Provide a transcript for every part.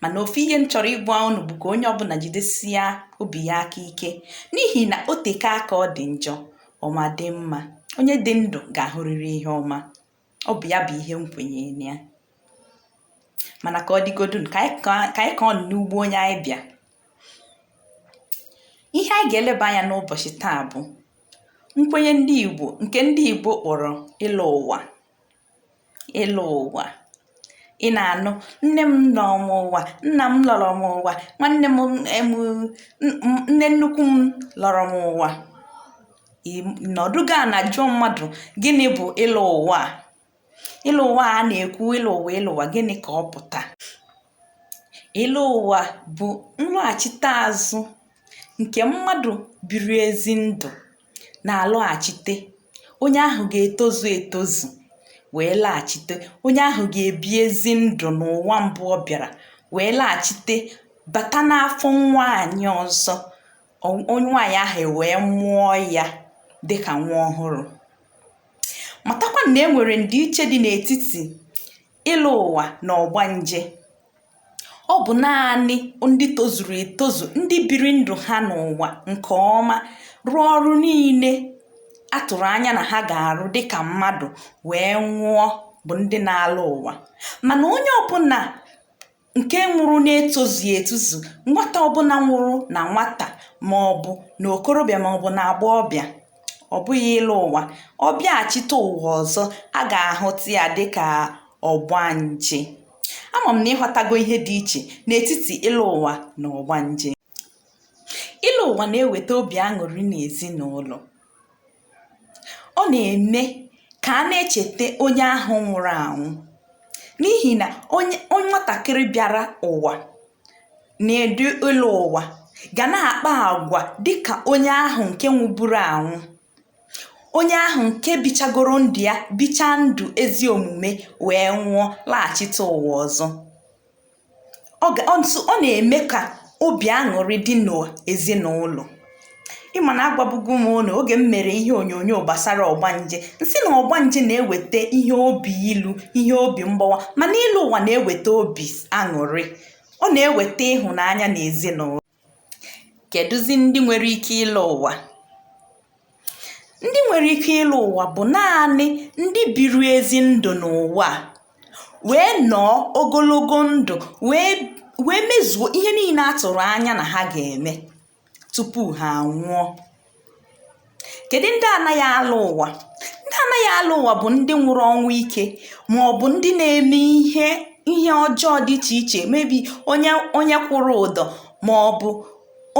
mana ofu ihe m chọrọ ịgwa unu bụ ka onye ọbụla jidesia obi ya aka ike n'ihi na o teke aka ọ dị njọ ọma dị mma onye dị ndụ ga-ahụrịrị ihe ọma ọ bụ ya bụ ihe m kwenye na ya mana ka ọ dịgodu ka anyị ka ọ n'ugbo onye anyị bịa ihe anyị ga-eleba anya n'ụbọchị taa bụ nkwenye ndị Igbo nke ndị Igbo kpọrọ ịlọ ụwa ịlọ ụwa ị na-anụ nne m lọrọ m ụwa nna m lọrọ m ụwa nwanne m nne nnukwu m lọrọ m ụwa nọdụ ga na-ajụ mmadụ gịnị bụ ịlọ ụwa ịlọ ụwa a na-ekwu ịlọ ụwa ịlọ ụwa gịnị ka ọ pụta ịlọ ụwa bụ nlọghachite azụ nke mmadụ biri ezi ndụ na-alọghachite onye ahụ ga-etozu etozu wee laghachite onye ahụ ga-ebi ezi ndụ n'ụwa mbụ ọ bịara wee laghachite bata n'afọ nwaanyị ọzọ onye nwaanyị ahụ wee mụọ ya dịka nwa ọhụrụ matakwa na e nwere ndịiche dị n'etiti ịlọ ụwa na ọgbanje ọ bụ naanị ndị tozuru etozu ndị biri ndụ ha n'ụwa nke ọma rụọ ọrụ niile a tụrụ anya na ha ga-arụ dịka mmadụ wee nwụọ bụ ndị na-alọ ụwa mana onye ọbụla nke nwụrụ na-etozughị etozu nwata ọbụla nwụrụ na nwata ma ọ bụ na okorobịa ma ọ bụ na agbọghọbịa ọ bụghị ịlọ ụwa ọ bịaghachite ụwa ọzọ a ga-ahụta ya dịka ọgbanje ama m na ị ghọtago ihe dị iche n'etiti ịlọ ụwa na ọgbanje ịlọ ụwa na-eweta obi aṅụrị n'ezinụlọ ọ na-eme ka a na-echeta onye ahụ nwụrụ anwụ n'ihi na onye nwatakịrị bịara ụwa na-edu ịlọ ụwa ga na-akpa agwa dịka onye ahụ nke nwụburu anwụ Onye ahụ nke bichagoro ndụ ya bichaa ndụ ezi omume wee nwụọ laghachite ụwa ọzọ ọ na-eme ka obi aṅụrị dị n'ezinụlọ ị ma na agwabugo m unu oge m mere ihe onyonyo gbasara ọgbanje m sị na ọgbanje na-eweta ihe obi ilu ihe obi mgbawa mana ịlọ ụwa na-eweta obi aṅụrị ọ na-eweta ịhụnanya n'ezinụlọ kedụzi ndị nwere ike ịlọ ụwa ndị nwere ike ịlọ ụwa bụ naanị ndị biri ezi ndụ n'ụwa a wee nọọ ogologo ndụ wee mezuo ihe niile a tụrụ anya na ha ga-eme tupu ha anwụọ kedu ndị anaghị alọ ụwa ndị anaghị alọ ụwa bụ ndị nwụrụ ọnwụ ike ma ọ bụ ndị na-eme ihe ihe ọjọọ dị iche iche maybe onye kwụrụ ụdọ ma ọ bụ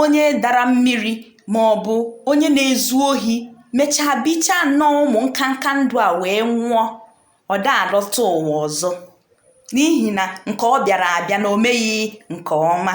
onye dara mmiri ma ọ bụ onye na-ezu ohi mechaa bichaa nnọọ ụmụ nkanka ndụ a wee nwụọ ọ da alọta ụwa ọzọ n'ihi na nke ọ bịara abịa na o meghị nke ọma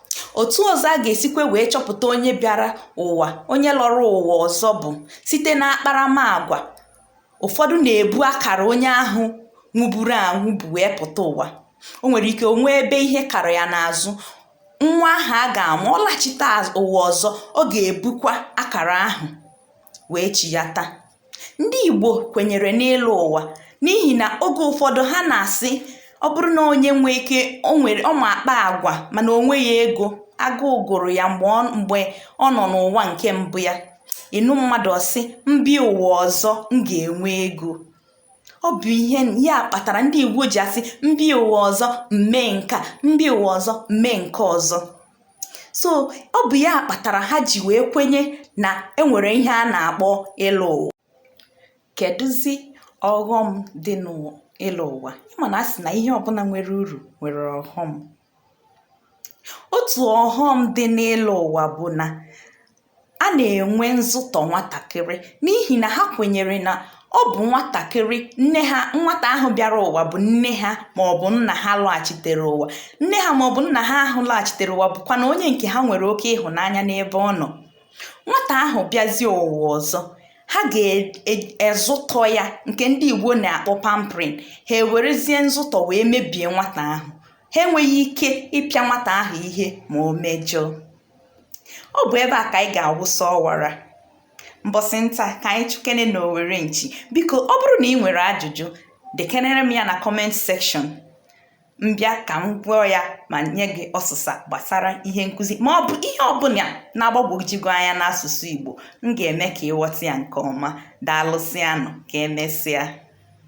otu ọzọ a ga-esikwa wee chọpụta onye bịara ụwa onye lọrọ ụwa ọzọ bụ site na akparamagwa ụfọdụ na-ebu akara onye ahụ nwụburu anwụ bu wee pụta ụwa o nwere ike o nwee ebe ihe kara ya n'azụ nwa ahụ a ga-amụ ọ lachita ụwa ọzọ ọ ga-ebukwa akara ahụ wee chiyata Ndị Igbo kwenyere n'ịlọ ụwa n'ihi na oge ụfọdụ ha na-asị ọ bụrụ na onye nwee ike o nwere ọ ma akpa agwa mana o nweghị ego agụụ gụrụ ya mgbe ọ mgbe ọ nọ n'ụwa nke mbụ ya ị nụ mmadụ ọ sị m bịa ụwa ọzọ m ga-enwe ego ọ bụ ihe ya kpatara ndị Igbo ji asị m bịa ụwa ọzọ m mee nke a m bịa ụwa ọzọ m mee nke ọzọ so ọ bụ ya kpatara ha ji wee kwenye na e nwere ihe a na-akpọ ịlọ ụwa kedụzi ọghọm dị n'ịlọ ụwa ị ma na a sị na ihe ọbụla nwere uru nwere ọghọm otu ọghọm dị n'ịlọ ụwa bụ na a na-enwe nzụtọ nwatakịrị n'ihi na ha kwenyere na ọ bụ nwatakịrị nne ha nwata ahụ bịara ụwa bụ nne ha ma ọ bụ nna ha lọghachitere ụwa nne ha ma ọ bụ nna ha ahụ lọghachitere ụwa bụkwa na onye nke ha nwere oke ịhụnanya n'ebe ọ nọ nwata ahụ bịazie ụwa ọzọ ha ga-ezụtọ e, e, ya nke ndị igbo na-akpọ pampering ha ewerezie nzụtọ wee mebie nwata ahụ ha enweghị ike ịpịa nwata ahụ ihe ma o mejọọ ọ bụ ebe a ka anyị ga-awụsa ọwara mbọsị nta ka anyị chụkene n'owere nchi biko ọ bụrụ na ị nwere ajụjụ dekenere m ya na comment section m bịa ka m gụọ ya ma nye gị ọsịsa gbasara ihe nkụzi ma ọ bụ ihe ọbụla na-agbagwoju gị anya n'asụsụ Igbo m ga-eme ka ị ghọta ya nke ọma daalụsịanụ ka emesịa